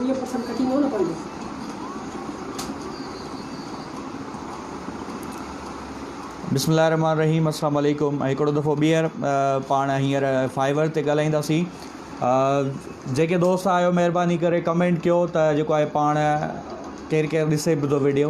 ائين پسند ڪٽيندو نه پنهنجو. بسم الله الرحمٰن الرحيم السلام عليڪم هڪڙو دفعو ٻيهر پاڻ هينئر فائبر تي ڳالهائينداسين جيڪي دوست آهيو مهرباني ڪري ڪمينٽ ڪيو ته جيڪو آهي پاڻ ڪير ڪير ڏسي به ٿو ويڊيو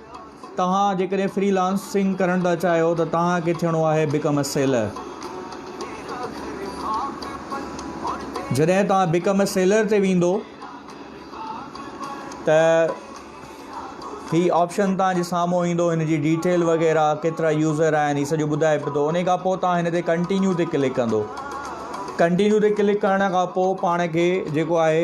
توهان جيڪڏهن فري لانسنگ ڪرڻ ٿا چاهيو ته توهان کي ٿيڻو آهي بڪم اي سيلر. جڏهن توهان بڪم اي سيلر تي ويندو ته هي آپشن توهان جي سامهون ايندو هن جي ڊيٽيل وغيرها ڪيترا يوزر آهن هي سڄو ٻڌائي پيو ان کان پوء توهان هن تي ڪنٽينيو تي ڪلڪ ڪندو ڪنٽينيو تي ڪلڪ ڪرڻ کان پوء پاڻ کي جيڪو آهي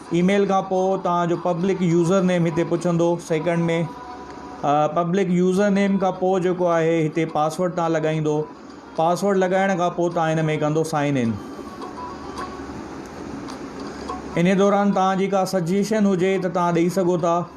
اي ميل کان پوء توهان جو پبلڪ يوزر نيم هتي پڇندو سيڪنڊ ۾ پبلڪ يوزر نيم کان پوء جيڪو آهي هتي پاسورڊ توهان لڳائيندو پاسورڊ لڳائڻ کان پوء توهان هن ۾ ڪندو سائن ان ان دوران توهان جي ڪا سجيشن هجي ته توهان ڏئي سگهو ٿا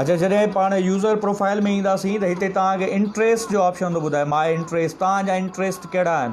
اچا جڏهن پاڻ يوزر پروفائل ۾ اينداسين ته هتي توهان کي انٽريسٽ جو آپشن ٿو ٻڌائي ماء انٽريسٽ توهان جا انٽريسٽ ڪهڙا آهن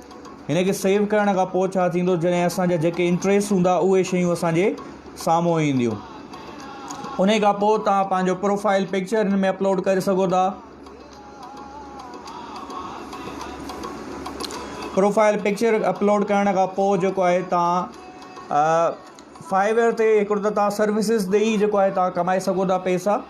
هن کي سيو ڪرڻ کان پوء ڇا ٿيندو جڏهن اسان جا جيڪي انٽريس هوندا اهي شيون اسان جي سامهون اينديون ان کان پوء توهان پنهنجو پروفائل پڪچر هن ۾ اپلوڊ ڪري سگهو ٿا پروفائل پڪچر اپلوڊ ڪرڻ کان پوء جيڪو آهي توهان فائبر تي هڪڙو ته توهان سروسز ڏيئي جيڪو آهي توهان ڪمائي سگهو ٿا پئسا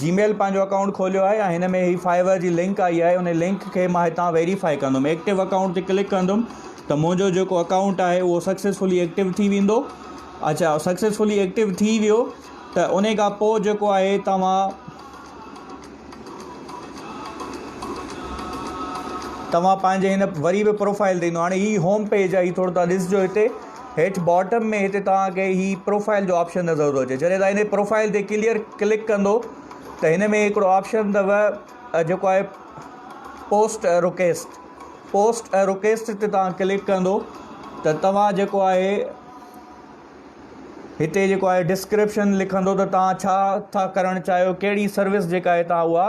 جي ميل پنهنجو اڪائونٽ کوليو آهي ۽ هن ۾ هي فائيور جي لنڪ آئي آهي ان لنڪ کي مان هتان ويريفائي ڪندم ايڪٽو اڪائونٽ تي ڪلڪ ڪندم ته منهنجو جيڪو اڪائونٽ آهي اهو سڪسيسفلي ايڪٽو ٿي ويندو اچا سڪسيسفلي ايڪٽو ٿي ويو ته ان کان پوء جيڪو آهي توهان توهان پنهنجي هن وري به پروفائل ڏيندو هاڻي هي هوم پيج آهي هي ٿورو تان ڏسجو هتي هيٺ باٽم ۾ هتي توهان کي هي پروفائيل جو آپشن نظر ٿو اچي جڏهن توهان هن پروفائيل تي ڪليئر ڪلڪ ڪندو ته هن ۾ هڪڙو آپشن اٿو جيڪو آهي post a request post a request تي توهان ڪلڪ ڪندو ته توهان جيڪو آهي هتي جيڪو آهي ڊسڪرپشن لکندو ته توهان ڇا ٿا ڪرڻ چاهيو ڪهڙي سروس جيڪا آهي توهان اها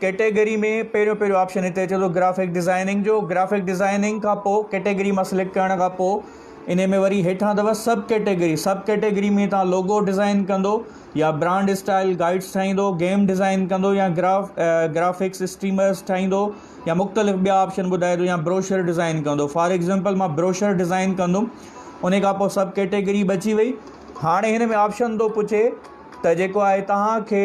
ڪيٽيگري ۾ پهريون پهريون آپشن هتي اچي ٿو گرافڪ ڊزائننگ جو گرافڪ ڊزائننگ کان پوء ڪيٽيگري مان سليڪٽ ڪرڻ کان پوء ان ۾ وري هيٺان اٿو سب ڪيٽيگري سب ڪيٽيگري ۾ تان لوگو ڊزائن ڪندو يا برانڊ اسٽائل گائيڊس ٺاهيندو گيم ڊزائن ڪندو يا گراف گرافڪس اسٽريمرس ٺاهيندو يا مختلف ٻيا آپشن ٻڌائي ٿو يا بروشر ڊزائن ڪندو فار ايگزامپل مان بروشر ڊزائن ڪندم ان کان پوء سب ڪيٽيگري بچي وئي هاڻي هن ۾ آپشن ٿو پڇي ته جيڪو آهي تهان کي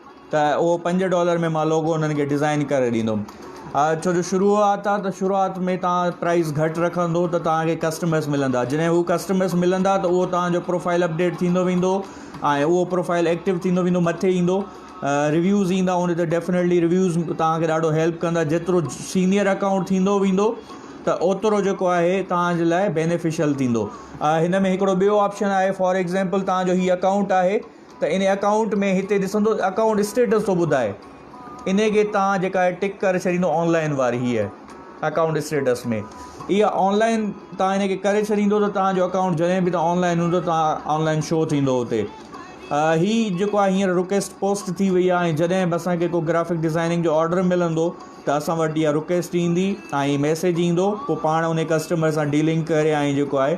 ته اهو پنج ڊالر ۾ مان لوگو انهن کي ڊزائين ڪري ڏيندم ڇو جو شروعات آهي ته شروعات ۾ توهان پرائز گهٽ رکندو ته توهان کي ڪسٽمرس ملندا جڏهن هو ڪسٽمرس ملندا ته اهو توهان جو پروفائل اپڊيٽ ٿيندو ويندو ۽ اهو پروفائل ايڪٽو ٿيندو ويندو مٿي ايندو ريويوز ايندا ان تي ڊيفنيٽلي ريويوز توهان کي ڏاڍو هيلپ ڪندا جيترو سينئر اڪائونٽ ٿيندو ويندو ته اوترو جيڪو آهي توهان جي لاء بينيفيشل ٿيندو هن ۾ هڪڙو ٻيو آپشن آهي فار ايگزامپل توهان جو هي اڪائونٽ آهي ته ان اڪائونٽ ۾ هتي ڏسندو اڪائونٽ اسٽيٽس ٿو ٻڌائي انهي کي تان جيڪا آهي ٽڪ ڪري ڇڏيندو آنلائن واري هيء اڪائونٽ اسٽيٽس ۾ اها آنلائن تان ان کي ڪري ڇڏيندو ته تان جو اڪائونٽ جڏهن به تان آنلائن هوندو تان آنلائن شو ٿيندو هتي هي جيڪو آهي هينئر رڪويسٽ پوسٽ ٿي وئي آهي جڏهن به اسان کي ڪو گرافڪ ڊيزائننگ جو آرڊر ملندو ته اسان وٽ اها رڪويسٽ ايندي ۽ ميسيج ايندو پوء پاڻ ان ڪسٽمر سان ڊيلنگ ڪري ۽ جيڪو آهي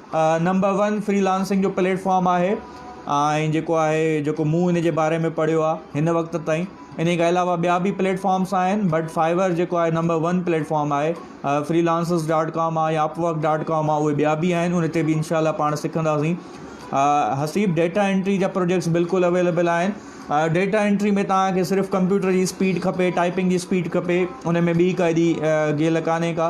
نمبر ون فري لانسنگ جو پليٽ فارم آهي ۽ جيڪو آهي جيڪو مون ان جي باري ۾ پڙهيو آهي هن وقت تائين انهي کان علاوه ٻيا بي پليٽ فارمس آهن بٽ فائبر جيڪو آهي نمبر ون پليٽ فارم آهي فري لانسز ڊاٽ ڪام آهي يا اپ ورڪ ڊاٽ ڪام آهي ٻيا بي آهن ان تي بي انشاء الله پاڻ سکنداسين حسيب ڊيٽا انٽري جا پروجيڪٽس بلڪل اويليبل آهن ڊيٽا انٽري ۾ توهان کي صرف ڪمپيوٽر جي اسپيڊ کپي ٽائپنگ جي اسپيڊ کپي ان ۾ ٻي ڪا ايڏي گيل ڪانهي ڪا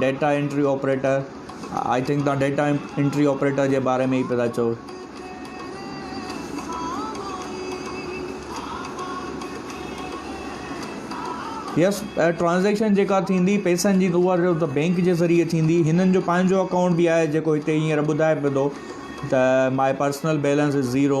data entry operator I think تان ڊيٽا انٽري آپريٽر جي باري ۾ ئي پيا چئو يس ٽرانزيڪشن جيڪا ٿيندي پيسن جي تو جو ته بينڪ جي ذريعي ٿيندي هنن جو پنهنجو اڪائونٽ به آهي جيڪو هتي هينئر ٻڌائي پيو ته ماء پرسنل بيلنس ذيرو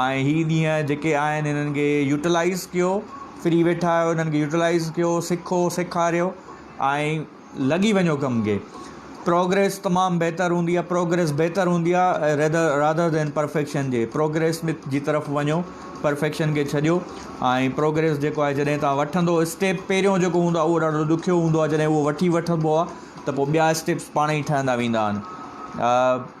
۽ هي ڏينهن جيڪي آهن هنن کي يوٽلائز ڪيو فري ويٺا آهيو هنن کي يوٽلائز ڪيو سکو سيکاريو ۽ لڳي وڃو ڪم کي پروگريس تمام بهتر هوندي آهي پروگريس بهتر هوندي آهي ريدر رادر دين پرفيڪشن جي پروگريس مت جي طرف وڃو پرفيڪشن کي ڇڏيو ۽ پروگريس جيڪو آهي جڏهن تان وٺندو اسٽيپ پهريون جيڪو هوندو آهي اهو ڏاڍو ڏکيو هوندو آهي جڏهن اهو وٺي وٺبو آهي ته پوء ٻيا اسٽيپس پاڻ ئي ٺهندا ويندا آهن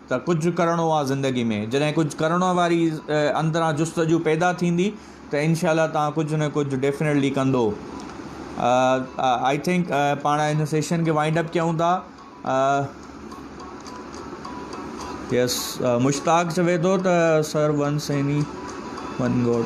ته ڪجهه ڪرڻو آ زندگي ۾ جڏهن ڪجهه ڪرڻ واري اندران جستجو پيدا ٿيندي ته انشاء الله توهان ڪجهه نه ڪجهه ڊيفنيٽلي ڪندو آئي ٿنڪ پاڻ هن سيشن کي وائنڊ اپ ڪيون ٿا يس مشتاق چوي ٿو ته سر ون سيني ون گوڊ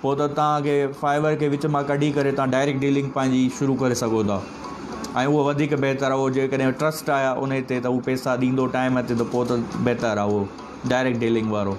پوء ته توهان کي فائبر کي وچ مان ڪڍي ڪري توهان ڊائريڪٽ ڊيلنگ پنهنجي شروع ڪري سگهو ٿا ۽ اهو وڌيڪ بهتر آهي اهو جيڪڏهن ٽرسٽ آهي انهي تي ته اهو پئسا ڏيندو ٽائيم تي ته پوء ته بهتر آهي اهو ڊائريڪٽ ڊيلنگ وارو